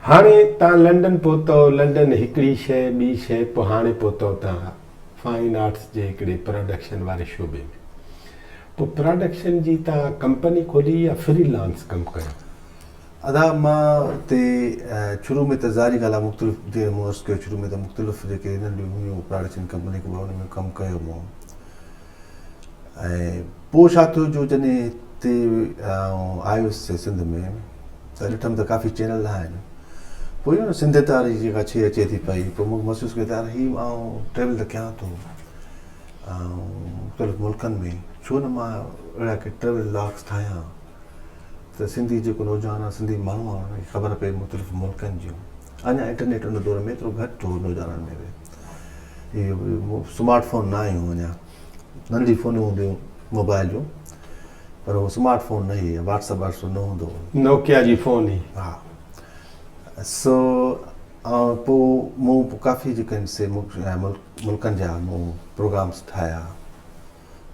هاڻي تان لنڊن پهتؤ لنڊن هڪڙي شئي ٻي شئي پوء هاڻي پهتؤ تان فائن آرٽس جي هڪڙي پراڊڪشن واري شعبي ۾ پوء پراڊڪشن جي تان ڪمپني کولي يا فري لانس ڪم ڪيو ادا مان تي شروع ۾ ته ظاھري ڳالھ آ مختلف جيئن مون عرض ڪيو شروع ۾ ته مختلف جيڪي ھنن جون ھيون پراڊڪشن ڪمپني ڪو به انھن ۾ ڪم ڪيو مون ۽ پوء ڇا ٿيو جو جڏھن ھتي آئي ھوس سنڌ ۾ ته ڏٺم ته ڪافي چينل آھن پوء اھو سنڌيت واري جيڪا شيء اچي ٿي پئي پوء مونکي محسوس ڪيو ته يار ھي آئون ٽريول ته ڪيان ٿو مختلف ملڪن ۾ ڇو نه مان اھڙا ڪي ٽريول ولاگس ٺاھيان ته سنڌي جيڪو نوجوان آهي سنڌي ماڻهو آهي ان کي خبر پئي مختلف ملڪن جون اڃا انٽرنيٽ ان دور ۾ ايترو گهٽ هو نوجوانن ۾ به اهو سمارٽ فون نه آيون اڃا ننڍڙي فونيون هونديون موبائل جون پر اهو سمارٽ فون نه هي واٽس اپ واٽس اپ نه هوندو هو نوڪيا جي فون هي ها سو آئون پوء مون ڪافي جيڪن سي ملڪن جا مون پروگرامس ٺاهيا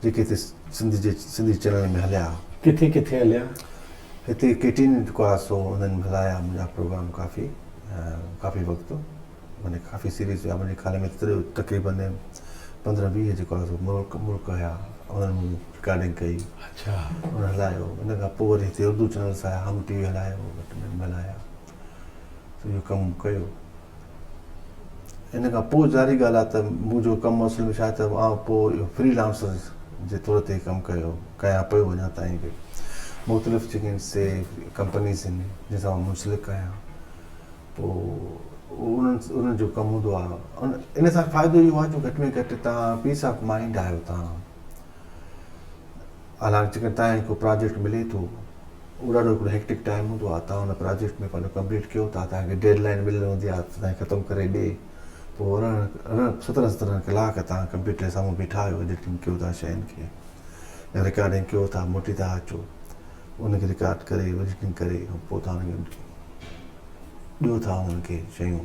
جيڪي هتي سنڌ جي سنڌي چئنل ۾ هليا ها. ڪٿي ڪٿي هليا؟ هتي ڪي ٽي نيٽ ڪو ها سو انهن هلايا منهنجا پروگرام ڪافي ڪافي وقت منهنجي ڪافي سيريز هيا منهنجي خيال ۾ تقريبن پندرهن ويهه جيڪو ها سو ملڪ ملڪ هيا انهن مون رڪارڊنگ ڪئي اڇا انهن هلايو ان کان پوء وري هتي اردو چئنلس آيا هم ٽي وي هلايو گهٽ ۾ هم هلايا سو اهو ڪم ڪيو. ان کان پوء ظاهري ڳالهه آهي ته منهنجو ڪم اصل ۾ ڇا ته آئون پوء فري لانسر جي طور تي ڪم ڪيو ڪيان پيو اڃا تائين به مختلف جيڪي آهن سي ڪمپنيز آهن جن سان آئون منسلڪ آهيان پوء انهن انهن جو ڪم هوندو آهي ان ان سان فائدو اهو آهي جو گهٽ ۾ گهٽ تان پيس آف مائنڊ آهيو تان حالانڪ جيڪڏهن تهان کي ڪو پراجيڪٽ ملي ٿو اهو ڏاڍو هڪڙو هيڪٽڪ ٽائيم هوندو آهي تهان ان پراجيڪٽ ۾ پنهنجو ڪمپليٽ ڪيو ٿا تهان کي ڊيڊ لائين مليل هوندي آهي ته تهان ختم ڪري ڏي پوء ارڙهن ارڙهن سترهن سترهن ڪلاڪ تهان ڪمپيوٽر جي سامهون بيٺا آهيو ايڊيٽنگ ڪيو ٿا شين کي يا رڪارڊنگ ڪيو ٿا موٽي ٿا اچو ان کي رڪارڊ ڪري ايڊيٽنگ ڪري پوء تهان ڏيو ٿا انهن کي شيون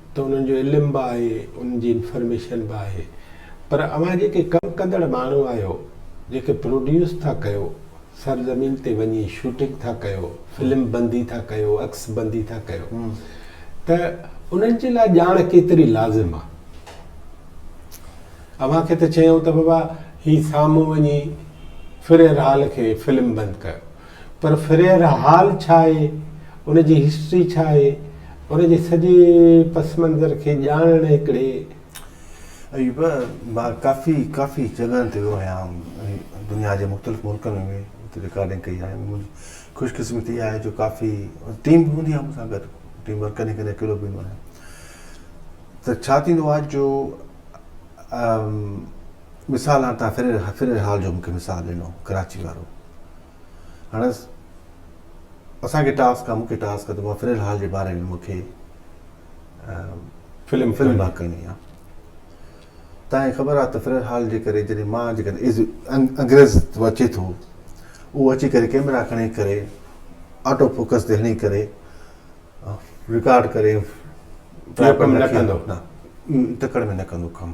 ته انهن جو علم به آهي انهن جي انفرميشن به آهي پر اوهان جيڪي ڪم ڪندڙ ماڻهو آهيو جيڪي پروڊيوس ٿا ڪيو سر زمين تي وڃي شوٽنگ ٿا ڪيو فلم بندي ٿا ڪيو عڪس بندي ٿا ڪيو ته انهن جي لاء ڄاڻ ڪيتري لازم آهي اوهان کي ته چيائون ته بابا هي سامهون وڃي فريرحال کي فلم بند ڪيو پر فريئر هال ڇا آهي، ان جي هسٽري ڇا آهي، ان جي سڄي پس منظر کي ڄاڻڻ هڪڙي. ايوب، مان ڪافي ڪافي جڳهن تي ويو آهيان ۽ دنيا جي مختلف ملڪن ۾ به اتي رڪارڊنگ ڪئي آهي. منهنجي خوش قسمتي آهي جو ڪافي ٽيم به هوندي آهي مون سان گڏ، ٽيم ورڪ ڪڏهن ڪڏهن اڪيلو به ويندو آهيان. ته ڇا ٿيندو آهي جو مثال هاڻ تان فرير هال جو مونکي مثال ڏنو ڪراچي وارو هاڻ اسان کي ٽاسڪ آ مونکي ٽاسڪ آ ته مان فرير هال جي باري ۾ مونکي فلم فلم با ڪرڻي آ تان هي خبر آ ته فرير هال جي ڪري جڏهن مان جي ڪري انگريز تو اچي ٿو او اچي ڪري ڪيمرا کڻي ڪري آٽو فوڪس تي هڻي ڪري رڪارڊ ڪري ٽرائپر نه ڪندو نه ٽڪڙ ۾ نه ڪندو ڪم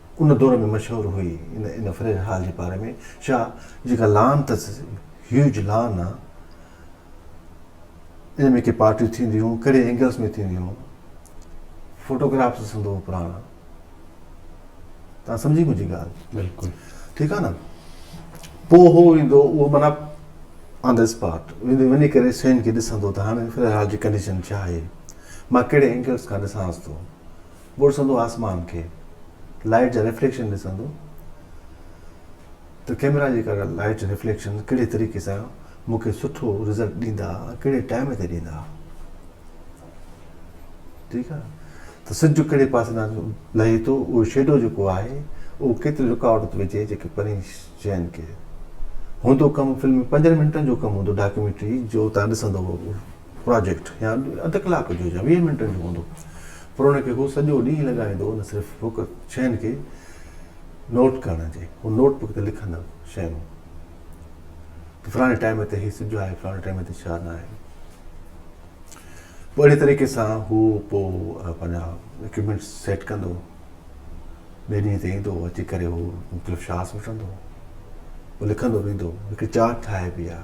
ان دور ۾ مشهور هئي. ان فريڊ هال جي پاري ۾ شاهه جيڪا لان تس، هيوج لان، آ. ان ۾ ڪي پارٽيون ٿينديون، ڪهڙي اينگلس ۾ ٿينديون، فوٽوگرافس سنڌو ۾ پراڻا. توهان سمجهي منهنجي ڳالهه؟ بلڪل. ٺيڪ آ نه. پوء هو ايندو اهو معنيٰ آن دي اسپاٽ ويندو وڃي ڪري شين کي ڏسندو ته هاڻي فريڊ هال جي ڪنڊيشن ڇا آهي. مان ڪهڙي اينگلس کان ڏسانس ٿو. ٻرسندو آسمان کي لائٽ جا ريفليڪشن ڏسندو ته ڪيميرا جي ڪڍيل لائٽ ريفليڪشن ڪهڙي طريقي سان مون کي سٺو رزلٽ ڏيندا ۽ ڪهڙي ٽائيم تي ڏيندا ٺيڪ آهي ته سج ڪهڙي پاسي تان لهي ٿو اهو شيڊو جيڪو آهي اهو ڪيتري رڪاوٽ ٿو وجهي جيڪي پرين شين کي هوندو ڪم فلم ۾ پنجن منٽن جو ڪم هوندو ڊاڪيومينٽري جو تان ڏسندو پراجيڪٽ يا اڌ ڪلاڪ جو يا ويهه منٽن جو هوندو پر ان کي هو سڄو ڏينهن لڳائيندو نه صرف بڪ شين کي نوٽ ڪرڻ جي هو نوٽ بڪ تي لکندو شيون ته فلاڻي ٽائيم تي هي سج آهي فلاڻي ٽائيم تي ڇا نه آهي پوء اهڙي طريقي سان هو پوء پنهنجا اڪوپمينٽ سيٽ ڪندو ٻئي ڏينهن تي ايندو اچي ڪري هو مختلف شاس وٺندو پوء لکندو ويندو هڪ چارٽ ٺاهي بي آهي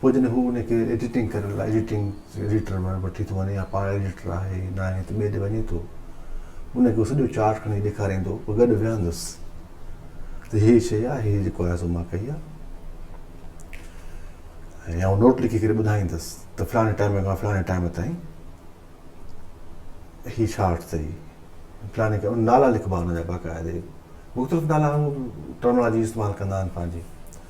پوء جڏهن هو ان کي ايڊيٽنگ ڪرڻ لاء ايڊيٽنگ ايڊيٽر وٽ وٺي ٿو وڃي يا پاڻ ايڊيٽر آهي ناهي ته ٻئي ڏي وڃي ٿو ان کي هو سڄو چارٽ کڻي ڏيکاريندو پوء گڏ ويهندس ته هي شيء آهي هي جيڪو آهي سو مان ڪئي آهي يا هو نوٽ لکي ڪري ٻڌائيندس ته فلاڻي ٽائيم کان فلاڻي ٽائيم تائين هي چارٽ اٿئي فلاڻي کي نالا لکبا هن جا باقاعدي مختلف نالا هو ٽرمنالاجي استعمال ڪندا آهن پنهنجي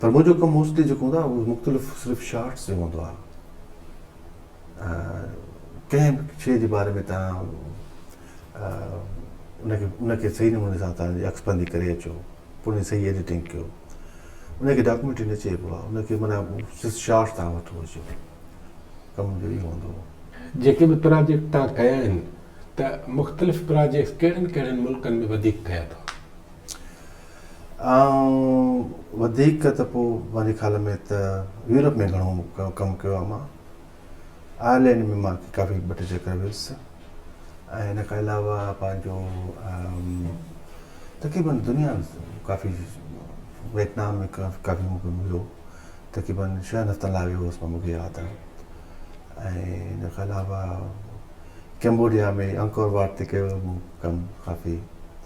پر منهنجو ڪم موسٽلي جيڪو هوندو آهي اهو مختلف صرف شارٽس جو هوندو آهي ڪنهن به شيء جي باري ۾ تهان ان کي ان کي صحيح نموني سان تهان جي عڪس بندي ڪري اچو پوء ان جي صحيح ايڊيٽنگ ڪيو ان کي ڊاڪيومينٽري نه چئبو آهي ان کي معنيٰ صرف شارٽس تهان وٺو اچو ڪم منهنجو اهو هوندو هو جيڪي به پراجيڪٽ تهان ڪيا آهن ته مختلف پراجيڪٽس ڪهڙن ڪهڙن ملڪن ۾ وڌيڪ ڪيا اٿو؟ وڌيڪ ته پوء مانجي خيال ۾ ته يورپ ۾ گهڻو ڪم ڪيو آهي مان آئرلينڊ ۾ مان ڪافي ٻه ٽي چڪر ويس ۽ ان کان علاوه پنهنجو تقريبن دنيا ڪافي ويٽنام ۾ ڪافي مون کي مليو تقريبن شهن هفتن لاء ويو هوس مان مون کي ياد آهي ۽ ان کان علاوه ڪيمبوڊيا ۾ انڪور واٽ تي ڪيو هو مون ڪم ڪافي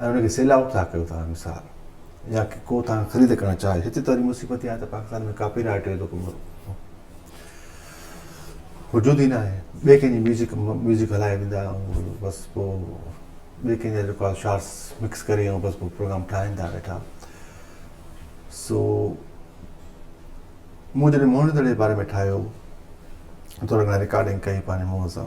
۽ ان کي سيل آئوٽ ٿا ڪيو ٿا مثال يا ڪو تان خريد ڪرڻ چاهي هتي ته وري مصيبت اها آهي ته پاڪستان ۾ ڪاپي رائيٽ جو ڪو وجود ئي ناهي ٻئي ڪنهن جي ميوزڪ ميوزڪ هلائي ڏيندا آهيون بس پوء ٻئي ڪنهن جا رڪارڊ شارس مڪس ڪري ۽ بس پوء پروگرام ٺاهين ٿا ويٺا سو مون جڏهن موهن دڙي جي باري ۾ ٺاهيو ٿورا گهڻا رڪارڊنگ ڪئي پنهنجي منهن سان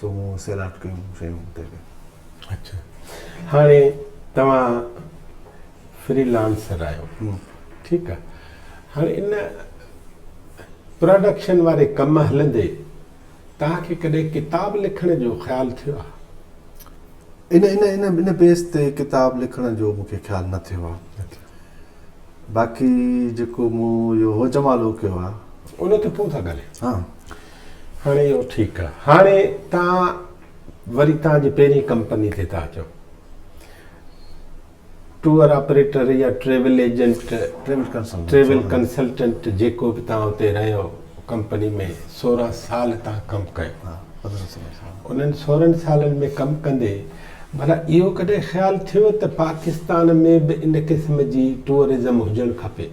سو مون سيلاٽ ڪيون شيون اتي به. اڇا هاڻي توهان فري لانسر آهيو ٺيڪ آ هاڻي ان پراڊڪشن واري ڪم هلندي توهان کي ڪڏهن ڪتاب لکڻ جو خيال ٿيو آ؟ ان ان ان ان بيس تي ڪتاب لکڻ جو مون کي خيال نه ٿيو آ باقي جيڪو مون اهو هو جمالو ڪيو آ. ان تي پوء ٿا ڳالهايون. ها هاڻي اهو ٺيڪ آ. هاڻي توهان وري توهان جي پهرين ڪمپني تي ٿا اچو. ٽوئر آپريٽر يا ٽريول ايجنٽ، ٽريول ڪنسلٽنٽ جيڪو به توهان اتي رهيو ڪمپني ۾ سورهن سال توهان ڪم ڪيو. انهن سورهن سالن ۾ ڪم ڪندي ڀلا اهو ڪڏهن خيال ٿيو ته پاڪستان ۾ به ان قسم جي ٽوئرزم هجڻ کپي؟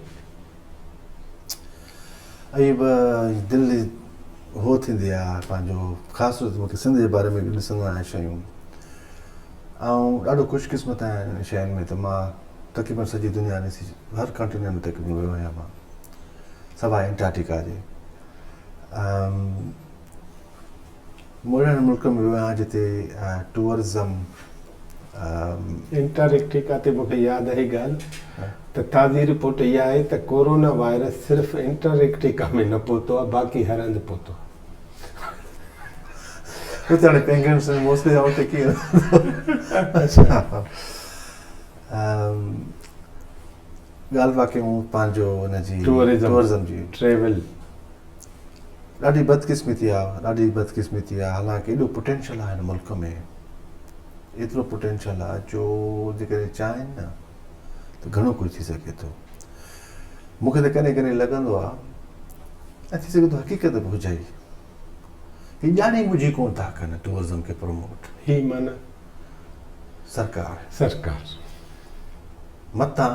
اهي به دل هو ٿيندي آ پنهنجو خاص طور تي مون کي سنڌ جي باري ۾ ڏسندو آهيان شيون آئون ڏاڍو خوش قسمت آهيان انهن شين ۾ ته مان تقريبن سڄي دنيا ڏسي هر ڪنٽيننٽ ۾ تقريبن ويو آهيان مان سواء انٽارٽيڪا جي مون اهڙن ملڪن ۾ ويو آهيان جتي ٽوئرزم انٽارڪٽيڪا تي مون کي ياد آهي ڳالهه ته تازي رپورٽ اها آهي ته ڪورونا وائرس صرف انٽارڪٽيڪا ۾ نه پهتو آهي باقي هر هنڌ پهتو آهي اتي هاڻي پينگوئنس ۽ موسلي جا اتي ڪيئن اچا ڳالهه باقي مون پنهنجو ان جي ٽوئرزم جي ٽريول ڏاڍي بدقسمتي آ ڏاڍي بدقسمتي آ حالانڪ ايڏو پٽينشل آ هن ملڪ ۾ ايترو پٽينشل آ جو جيڪڏهن چاهين نه ته گهڻو ڪجهه ٿي سگهي ٿو مون کي ته ڪڏهن ڪڏهن لڳندو آ ۽ ٿي سگهي ٿو حقيقت به هجي ئي هي ڄاڻي ٻجهي ڪونه ٿا ڪن ٽوئرزم کي پروموٽ هي معنی سرڪار سرڪار متان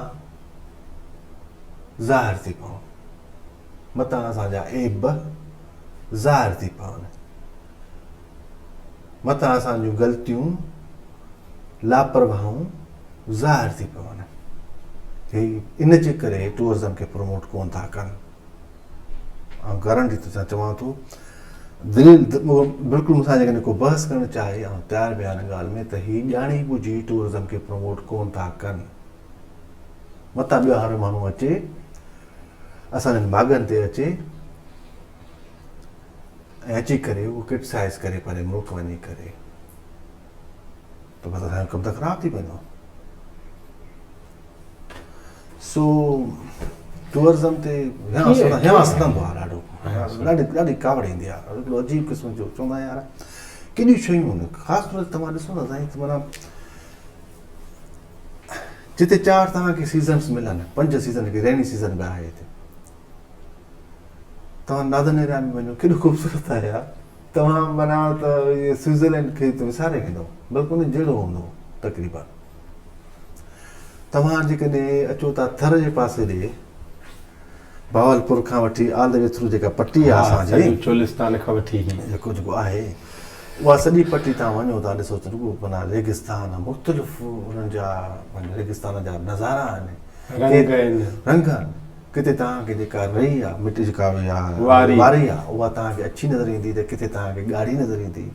ظاهر ٿي پون متان اسان جا عيب به ظاهر ٿي پون، متان اسان جون غلطيون لاپرواهون ظاهر ٿي پون. هي ان جي ڪري ٽوئرزم کي پروموٽ ڪون ٿا ڪن آئون گارنٽي تو سان چوان ٿو دليل بلڪل مون سان جيڪڏهن ڪو بحث ڪرڻ چاهي آئون تيار به آهيان ڳالهه ۾ ته هي ڄاڻي ٻجهي ٽوئرزم کي پروموٽ ڪون ٿا ڪن متان ٻيو هر ماڻهو اچي اسان جن ماڳن تي اچي ۽ اچي ڪري اهو ڪرٽسائز ڪري پنهنجي ملڪ وڃي ڪري ته بس اسان جو ڪم ته خراب ٿي پوندو سو ٽوئرزم تي هيانس ڪندو آهي ڏاڍو ڏاڍي ڏاڍي ڪاوڙ ايندي آهي هڪڙو عجيب قسم جو چوندا آهن يار ڪيڏيون شيون آهن خاص طور تي توهان ڏسو نه سائين معنی جتي چار توهان کي سيزنس ملن پنج سيزن هڪ ريني سيزن به آهي هتي توهان نادن ايريا ۾ وڃو ڪيڏو خوبصورت آهي يار توهان منا ته سوئٽزرلينڊ کي ته وساري ويندو بلڪ ان جهڙو هوندو تقريبا توهان جيڪڏهن اچو ٿا ٿر جي پاسي ڏي بهاولپور کان وٺي آل دي وي ٿرو جيڪا پٽي آهي اسان جي سڄو چولستان کان وٺي هي جيڪو جيڪو آهي اها سڄي پٽي تان وڃو ته ڏسو ته رڳو معنيٰ ريگستان مختلف انهن جا ريگستان جا نظارا آهن رنگ آهن رنگ آهن ڪٿي تان کي جيڪا رئي آهي مٽي جيڪا واري واري آهي اها تان کي اڇي نظر ايندي ته ڪٿي تان کي ڳاڙهي نظر ايندي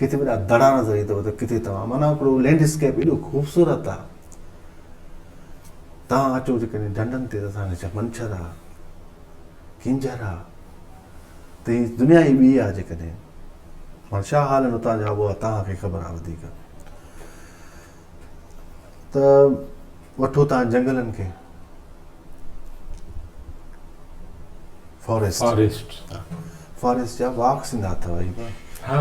ڪٿي وڏا دڙا نظر ايندو ته ڪٿي توهان معنيٰ هڪڙو لينڊ اسڪيپ ايڏو خوبصورت آهي تان اچو جيڪڏهن ڍنڍن تي ته اسان کي ڇا منڇر آ ڪينجهر آ ته هي دنيا ئي ٻي آ جيڪڏهن هاڻ ڇا حال آهن اتان جا اها تان کي خبر آ وڌيڪ ته وٺو تان جنگلن کي فاريسٽ فاريسٽ فاريسٽ جا واڪ سندا اٿو هي ها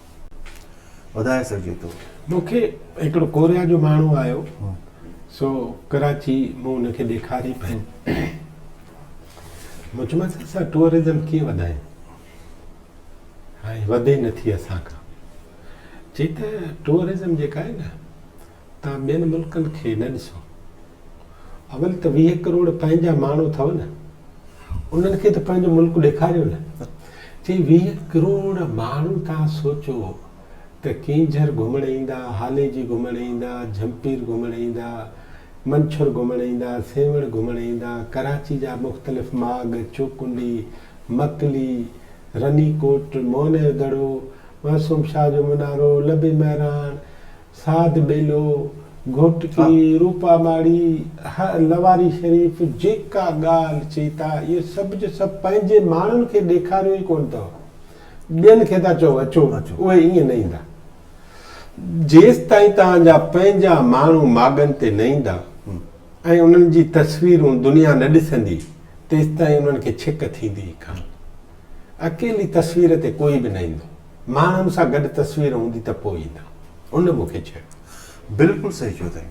ٻڌائي سگهجي ٿو. مون کي هڪڙو ڪوريا جو ماڻهو آيو سو ڪراچي مون ان کي ڏيکاري پنهنج مون چيومانس اسان ٽوئرزم ڪيئن وڌايون هاڻي وڌي نٿي اسان کان چي ته ٽوئرزم جيڪا آهي نه توهان ٻين ملڪن کي نه ڏسو اول ته ويهه ڪروڙ پنهنجا ماڻهو اٿو نه انهن کي ته پنهنجو ملڪ ڏيکاريو نه چي ويهه ڪروڙ ماڻهو توهان سوچو ته ڪينجهر گهمڻ ايندا هاليجي گهمڻ ايندا جهمپير گهمڻ ايندا منڇر گهمڻ ايندا سيوهڻ گهمڻ ايندا ڪراچي جا مختلف ماڳ چوڪنڊي مڪلي رني ڪوٽ موهن جو دڙو معصوم شاهه جو منارو لبي مهراڻ ساڌ ٻيلو، گهوٽڪي، روپا ماڙي، لواري شريف جيڪا ڳالهه چئي ٿا اهو سڀ جو سڀ پنهنجي ماڻهن کي ڏيکاريو ئي ڪونه اٿو. ٻين کي ٿا چئو اچو اهي ائين نه ايندا. جيستائين توهان جا پنهنجا ماڻهو ماڳن تي نه ايندا ۽ انهن جي تصويرون دنيا نه ڏسندي تيستائين انهن کي ڇڪ ٿيندي ئي ڪانه. اڪيلي تصوير تي ڪوئي به نه ايندو. ماڻهن سان گڏ تصوير هوندي ته پوء ئي نه. ان مون کي چيو. بلڪل صحيح چيو اٿئي.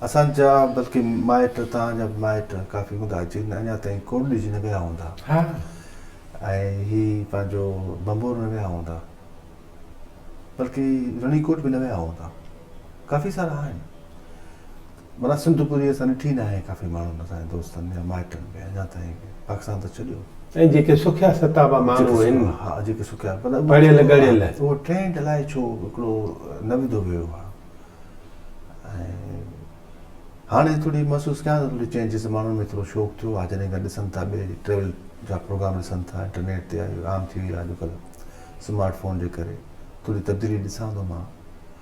اسان جا بلڪه مائٽ توهان جا به مائٽ ڪافي هوندا جن اڃا تائين ڪوڏج نه ويا هوندا ۽ هي پنهنجو ڀنڀور نه ويا هوندا بلڪه رڻيڪوٽ به نه ويا هوندا ڪافي سارا آهن. منا سنڌ پوري اسان ڏٺي ناهي ڪافي ماڻهن اسان جي دوستن يا مائٽن به اڃا تائين به پاڪستان ته ڇڏيو. ۽ جيڪي سکيا ستابا ماڻهو آهن پڙهيل ڳڙهيل. اهو ٽرينڊ الائي ڇو هڪڙو نه وڌو ويو آهي ۽ هاڻي ٿوري محسوس ڪيان ته ٿوري چينجز ماڻهن ۾ ٿورو شوق ٿيو آهي جڏهن کان ڏسن ٿا ٻئي ٽريول جا پروگرام ڏسن ٿا انٽرنيٽ تي عام ٿي وئي آهي اڄڪلهه سمارٽ فون جي ڪري ٿوري تبديلي ڏسان ٿو مان.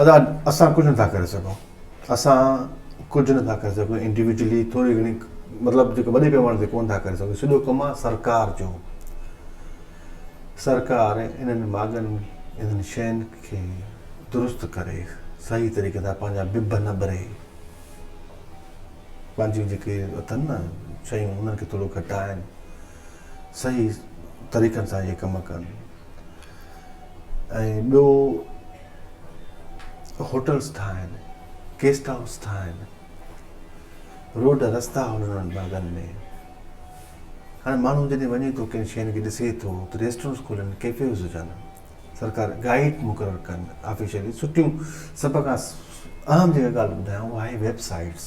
ادا اسان ڪجهه نٿا ڪري سگهون اسان ڪجهه نٿا ڪري سگهون انڊيوڊيولي ٿوري گهڻي مطلب جيڪو وڏي پيماني تي ڪونه ٿا ڪري سگهون سڄو ڪم آهي سرڪار جو سرڪار انهن ماڳن انهن شين کي درست ڪري صحيح طريقي سان پنهنجا بب نه ٻري پنهنجيون جيڪي اٿن نه شيون انهن کي ٿورو گهٽائن صحيح طريقن سان اهي ڪم ڪن ۽ ٻيو هوٽلس ٺاهن گيسٽ هائوس ٺاهن روڊ رستا هن انهن مرگن ۾ هاڻي ماڻهو جڏهن وڃي ٿو ڪن شين کي ڏسي ٿو ته ريسٽورنس کولن ڪيفيز هجن سرڪار گائيڊ مقرر ڪن آفيشلي سٺيون سڀ کان اهم جيڪا ڳالهه ٻڌايان اها آهي ويب سائيٽس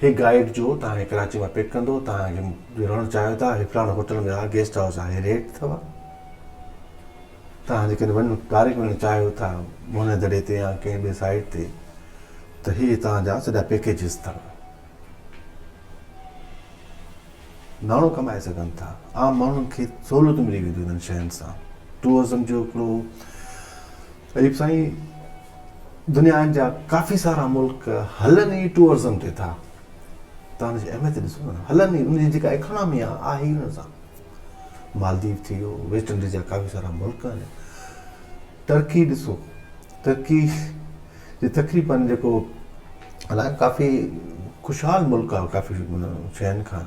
هي گائيڊ جو توهان کي ڪراچي مان پڪ ڪندو توهان کي جو رهڻ چاهيو ٿا هي فلاڻو هوٽل ۾ آهي گيسٽ هائوس آهي ريٽ اٿو توهان جيڪڏهن وڃ ڊائريڪٽ وڃڻ چاهيو ٿا موهن دڙي تي يا ڪنهن ٻي سائيٽ تي ته هي توهان جا سڄا پيڪيجز اٿو ناڻو ڪمائي سگهن ٿا عام ماڻهن کي سهولتون ملي وينديون انهن شين سان ٽوئزم جو هڪڙو طيب سائين دنيا جا ڪافي سارا ملڪ هلن ئي ٽوئرزم تي ٿا تان ان جي اهميت ڏسو نه هلن ئي ان جي جيڪا اڪانامي آ آهي ان سان مالديپ ٿي ويو ويسٽ انڊيز جا ڪافي سارا ملڪ آهن ٽرڪي ڏسو ٽرڪي جي تقريبن جيڪو هلائن ڪافي خوشحال ملڪ آ ڪافي شين کان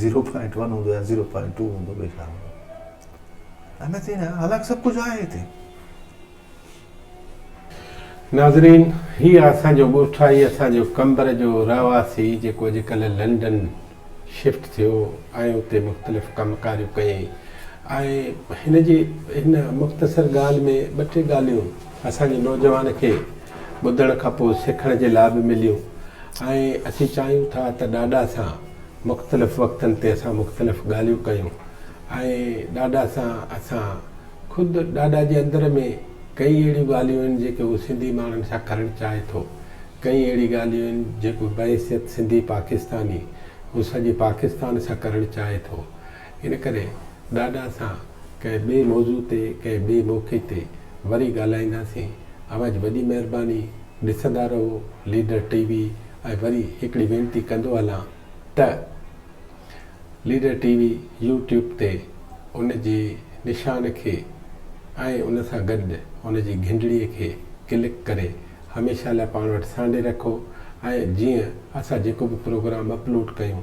زيرو پوائنٽ ون هوندو يا زيرو پوائنٽ ٽو هوندو ٻيو ڇا هوندو احمد چيائين نه هالاڪ سڀ ڪجهه آهي هتي ناظرين هي آ اسان جو ڳوٺائي اسان جو قمبر جو رهواسي جيڪو اڄ ڪلهه لنڊن شفٽ ٿيو ۽ اتي مختلف ڪم ڪاريون ڪيئي ۽ هن جي هن مختصر ڳالهه ۾ ٻه ٽي ڳالهيون اسان جي نوجوان کي ٻڌڻ کان پوء سکڻ جي لاء به مليون ۽ اسين چاهيون ٿا ته ڏاڏا سان مختلف وقتن تي اسان مختلف ڳالهيون ڪيون ۽ ڏاڏا سان اسان خود ڏاڏا جي اندر ۾ ڪئين اهڙيون ڳالهيون آهن جيڪي هو سنڌي ماڻهن سان ڪرڻ چاهي ٿو ڪئين اهڙي ڳالهيون آهن جيڪو بحيثيت سنڌي پاڪستاني هو سڄي پاڪستان سان ڪرڻ چاهي ٿو ان ڪري ڏاڏا سان ڪنهن ٻئي موضوع تي ڪنهن ٻئي موقعي تي وري ڳالهائينداسين اوهان جي وڏي مهرباني ڏسندا رهو ليڊر ٽي وي ۽ وري هڪڙي وينتي ڪندو هلان ته ليڊر ٽي وي يو ٽيوب تي ان جي نشان کي ۽ ان سان گڏ ان جي گهنڊڙي کي ڪلڪ ڪري هميشه لاء پاڻ وٽ سانڍي رکو ۽ جيئن اسان جيڪو به پروگرام اپلوڊ ڪيون